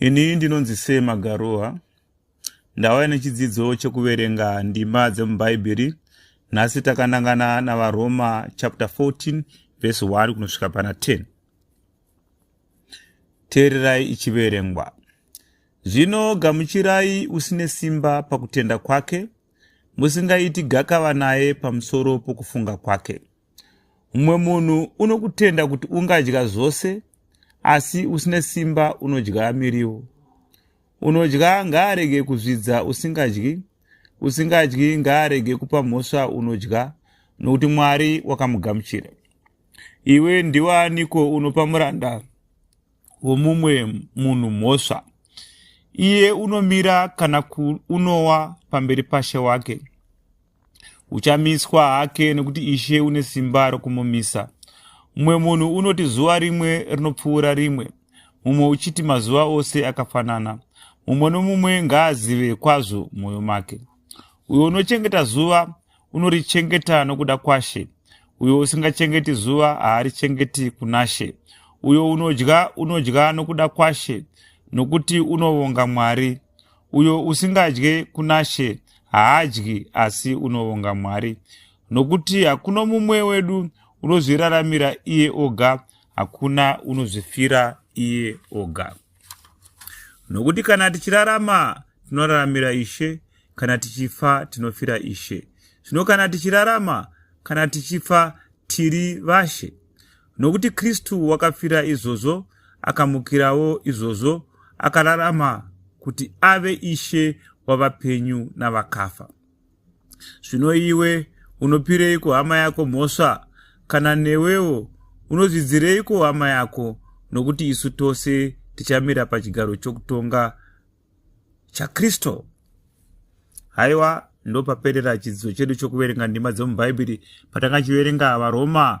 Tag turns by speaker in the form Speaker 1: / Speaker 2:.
Speaker 1: Ini ndinonzi Sema Garoa. Ndauya nechidzidzo chekuverenga ndima dzemubhaibheri. Nhasi takanangana naVaroma chapter 14 verse 1 kunosvika pana 10. Teererai ichiverengwa. Zvino gamuchirai usine simba pakutenda kwake, musingaiti gakava naye pamusoro pokufunga kwake. mumwe munhu unokutenda kuti ungadya zvose asi usine simba unodya miriwo unodya ngaarege kuzvidza usingadyi usingadyi ngaarege kupa mhosva unodya nokuti mwari wakamugamuchira iwe ndiwaaniko unopa muranda womumwe munhu mhosva iye unomira kana kuunowa pamberi pashe wake uchamiswa hake nekuti ishe une simba rokumumisa mumwe munhu unoti zuva rimwe rinopfuura rimwe mumwe uchiti mazuva ose akafanana mumwe nomumwe ngaazive kwazvo mwoyo make uyo unochengeta zuva unorichengeta nokuda kwashe uyo usingachengeti zuva haarichengeti kunashe uyo unodya unodya nokuda kwashe nokuti unovonga mwari uyo usingadye kunashe haadyi asi unovonga mwari nokuti hakuna mumwe wedu unozviraramira iye oga hakuna unozvifira iye oga Nokuti kana tichirarama tinoraramira Ishe, kana tichifa tinofira Ishe. Zvino kana tichirarama, kana tichifa tiri vashe. Nokuti Kristu wakafira izvozvo, akamukirawo izvozvo, akararama kuti ave Ishe wavapenyu navakafa. Zvino iwe unopireiko hama yako mhosva? Kana newewo unozvidzireiko hama yako? Nokuti isu tose tichamira pachigaro chokutonga chaKristu. Haiwa, ndopaperera chidzidzo chedu chokuverenga ndima dzomubhaibheri patanga chiverenga varoma